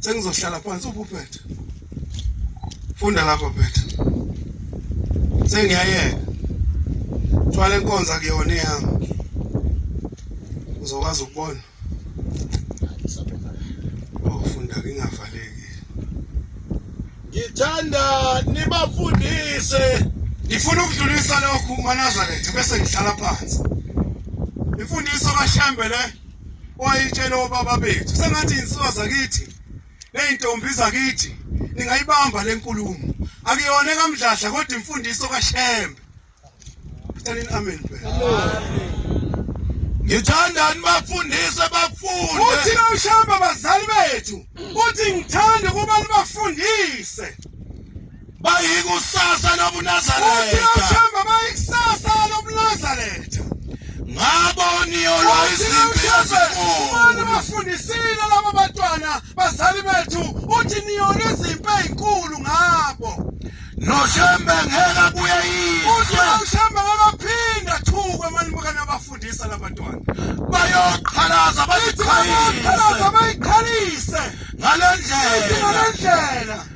sengizohlala phansi ubuphethe funda lapho phethe sengiyayeka thwala inkonza kuyona eyami uzokwazi ukubona ofunda ngingavaleki ngithanda nibafundise ngifuna ukudlulisa lokhu manazaretha bese ngihlala phansi imfundiso kashembe le wayitshela obaba bethu sengathi insuka zakithi nezintombi zakithi ningayibamba lenkulumo akuyona ekamdladla kodwa imfundiso kaShembe Thathanini amen phela Ngithandani bafundise bafunde Uthi nawushamba bazali bethu uthi ngithanda kubantu bafundise bayikusasa lobunazaretha uthemba bayikusasa lobunazaretha ngabo niyolwa izimpi ezinkulu bafundisile laba bantwana bazali bethu uthi niyolwa izimpi ezinkulu ngabo noshembe ngeke kuye yizwe uthi noshembe ngakaphinda thukwe manje bukana bafundisa labantwana bayoqhalaza bayiqhalise bayikhalise ngalendlela ngalendlela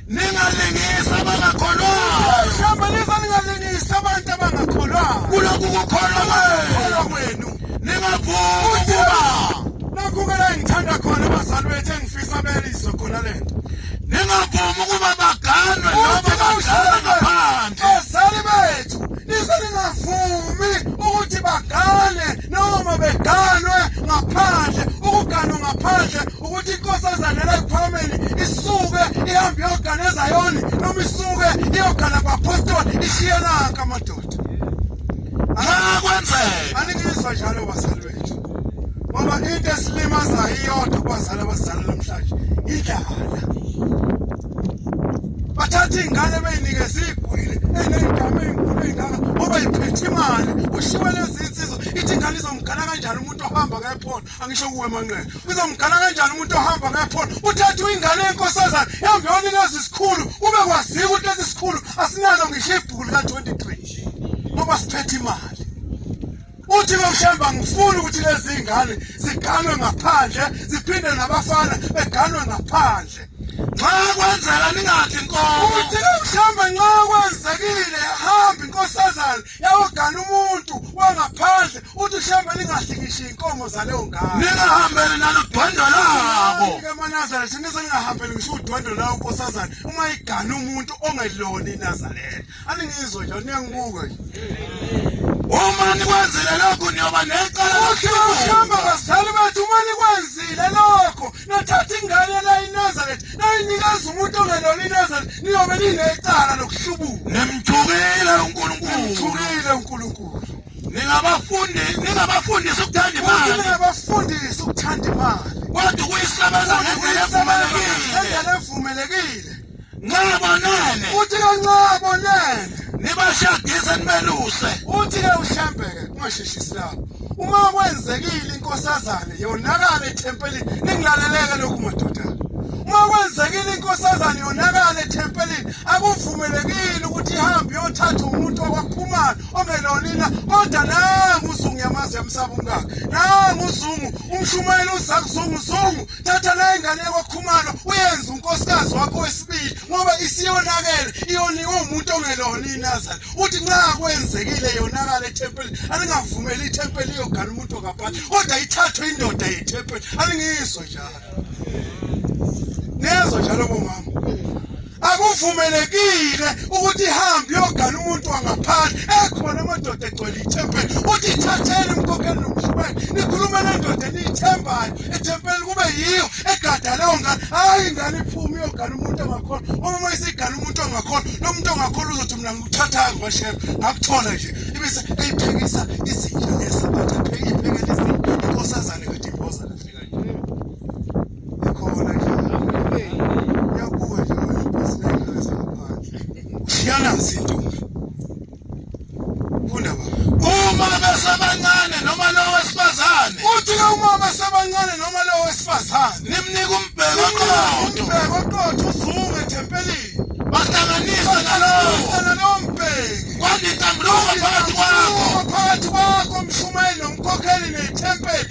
Ningalingisa abangakholwayo. Hlambanisa ningalingisa abantu abangakholwayo. Kulokhu kukholwa kwenu. Ningavumi ukuba nakhu ke la ngithanda khona abazali bethu engifisa belizwe khona le nto. Ningavumi ukuba baganwe noma badlala ngaphandle. Bazali bethu nize ningavumi ukuthi bagane noma beganwe ngaphandle ukuganwa ngaphandle ukuthi inkosazana layiphumeli isuke ihambe iyogana ezayoni noma isuke iyogana kwapostoli ishiyenaka amadoda akwenzeka aningizwa njalo bazali bethu ngoba into esilimazayo iyodwa kubazali abazali namhlanje idlala bathatha iy'ngane beyinikeza iy'gwili eney'gama ey'nkulu ey'ngaka ngoba yiphethe imali kushiwe lezi nsizwa ithi ingane izomgana kanjani umuntu ohamba ngephola angisho kuwe manqele uzomgala kanjani umuntu ohamba ngakhona uthatha ingane yenkosazana yambe yona lezi sikhulu ube kwazika ukuthi lezi sikhulu asinazo ngisho ibhuku lika 23 ngoba siphethe imali uthi bekushemba ngifuna ukuthi lezi ngane ziganwe ngaphandle ziphinde nabafana beganwe ngaphandle nxa kwenzeka ningathi nkomo uthi bekushemba nxa kwenzekile hamba inkosazana yawogana umuntu wangaphandle uthi hlambe lingahlikishi inkomo zaleyo ngane ningahambele naludwendwe labo emanazareth nize ningahambele ngisho udwendwe lawo nkosazane uma igana umuntu ongelona inazareth aningizwe nje niyangibuke uma nikwenzile lokhu niyoba necala lokuhamba bazali bethu uma nikwenzile lokho nathatha ingane layinazareth nayinikeza umuntu ongelona inazareth niyobe ninecala lokuhlubuka nimthukile unkulunkulu nimthukile unkulunkulu ningabafundi ningabafundisi ukuthanda imali ningabafundisi ukuthanda imali kodwa ukuyisebenzisa ngendlela evumelekile Nxa bonene. Uthi ke nxa bonene. Nibashadise nibeluse. Uthi ke uhlambeke ungasheshisi lapho. Uma kwenzekile inkosazane yonakala ethempelini ningilaleleke lokhu madoda. Uma kwenzekile inkosazane yonakala ethempelini akuvumelekile ukuthi ihambe yothatha umuntu okwakhumana ongelonina kodwa nangu uzungu yamazi yamsaba umkakhe. Nangu uzungu umshumayeli uzakuzungu uzungu thatha nayo ingane yakho khumalo uyenze unkosikazi wakho wesibili ngoba isiyonakele iyoniwe umuntu ongelona inazali uthi nxa kwenzekile yonakala ethempelini alingavumeli ithempeli iyogana umuntu ongaphandle kodwa ithathwe indoda yethempeli alingizwe njalo nezwa njalo bomama akuvumelekile ukuthi ihambe iyogana umuntu wangaphandle ekhona amadoda egcwele ithempeli uthi thatheni umkhokheli nomshumele nikhulume nendoda eniyithembayo ethempeli kube yiyo egada leyo ngane hhayi ingane iphume iyogana umuntu ongakhona uma uma isigana umuntu ongakhona lo muntu ongakhona uzothi mina ngikuthathayo ngibashebe ngakuthola nje ibise eyiphekisa izinja lesabatha pheke iphekela izinja inkosazane Ikhona nje. Yabuka nje isinekile sangaphandle. Ushiyanazi intombi. Funda baba. Uma besebancane noma lo wesifazane. Uthi ke uma besebancane noma lo wesifazane. Nimnika umbheko qotho. Umbheko qotho uzuke ethempelini. Bahlanganisa nalowo. Nalowo mbheki. Kwandisa mlomo phakathi kwakho. Phakathi kwakho mshumayeli nomkhokheli nethempeli.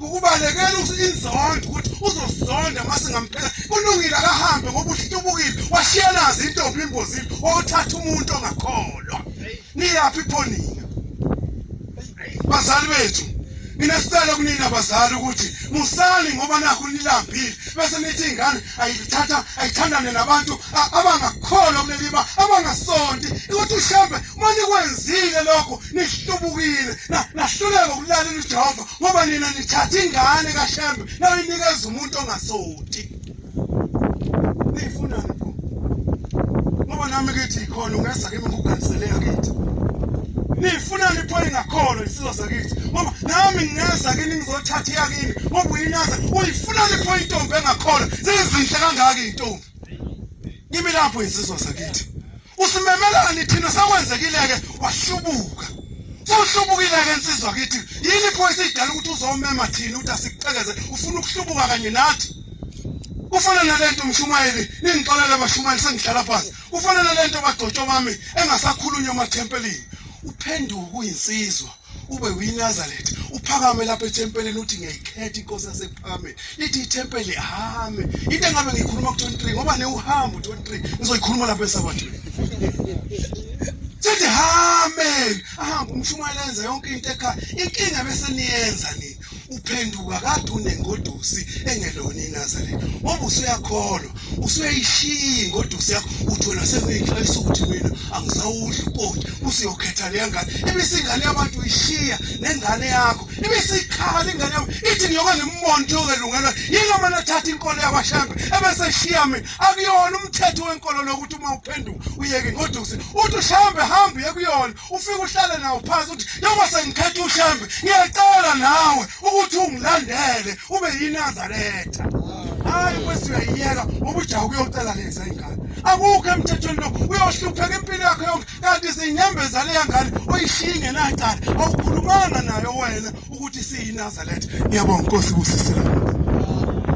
ubalekela inzondo ukuthi uzosonda uma singamphela kulungile akahambe ngoba uhlubukile washiyanazi intombi imbozile othatha umuntu ongakholwa niyaphi phonina bazali bethu mina sicela kunina bazali ukuthi musali ngoba nakho nilambile bese nithi ingane ayithatha ayithandane nabantu abangakholwa kuleliba abangasonti ukuthi uhlambe uma nikwenzile lokho nihlubukile nahluleka ukulalela uJehova ngoba nina nithatha ingane kaShembe nayinikeza umuntu ongasonti niyifuna ngoba nami ngithi khona ungeza kimi ngikuganisele yakithi nifuna ngipho ingakholwa isizwe sakithi ngoba nami ngingeza kini ngizothatha yakini ngoba uyinaza uyifuna ngipho intombi engakholwa zizinhle kangaka intombi kimi lapho isizwe sakithi usimemelani thina sakwenzekileke wahlubuka uhlubukile-ke nsizwa kithi yini iphoyisa idala ukuthi uzomema thina ukuthi asikuqekeze ufuna ukuhlubuka kanye nathi ufana nalento mshumayeli ningixolele bashumayeli sengihlala phansi kufanele lento kadotsho mami engasakhulunywa emathempelini uphenduke kuyinsizwa ube uyinazareth uphakame lapha ethempelini uthi ngiyayikhetha inkosi yasekuphakambeni lithi ithempeli hame into engabe ngiyikhuluma ku-23 ngoba newuhambe u-23 ngizoyikhuluma lapha esabathweni sithi hame ahambe umshumayela enza yonke into ekhaya inkinga bese niyenza nini uphenduka kade unengodusi engelona inazareth ngoba usuyakholwa usuyayishiya ingodusi yakho uthola sekuyixwayisa ukuthi mina angisawudli ukoti usiyokhetha leya ngane ibise ingane yabantu uyishiya nengane yakho ibise ikhala ingane yakho ithi ngiyoke ngimmonde yokelungelwa yini omane athatha inkolo yakwashambe ebese shiya mina akuyona umthetho wenkolo lokuthi uma uphenduka uyeke ingodusi uthi ushambe hambe uye kuyona ufike uhlale nawo phansi uthi noma sengikhetha ushembe ngiyacela nawe ukuthi ungilandele ube yinazaretha hayi kwesi uyayiyeka ngoba ujaha ukuyocela leza ingane akukho emthethweni lo uyohlupheka impilo yakho yonke kanti siyinyembezane yangane oyishiye ingenacala awukhulumanga nayo wena ukuthi siyinazaretha ngiyabonga nkosi kusisela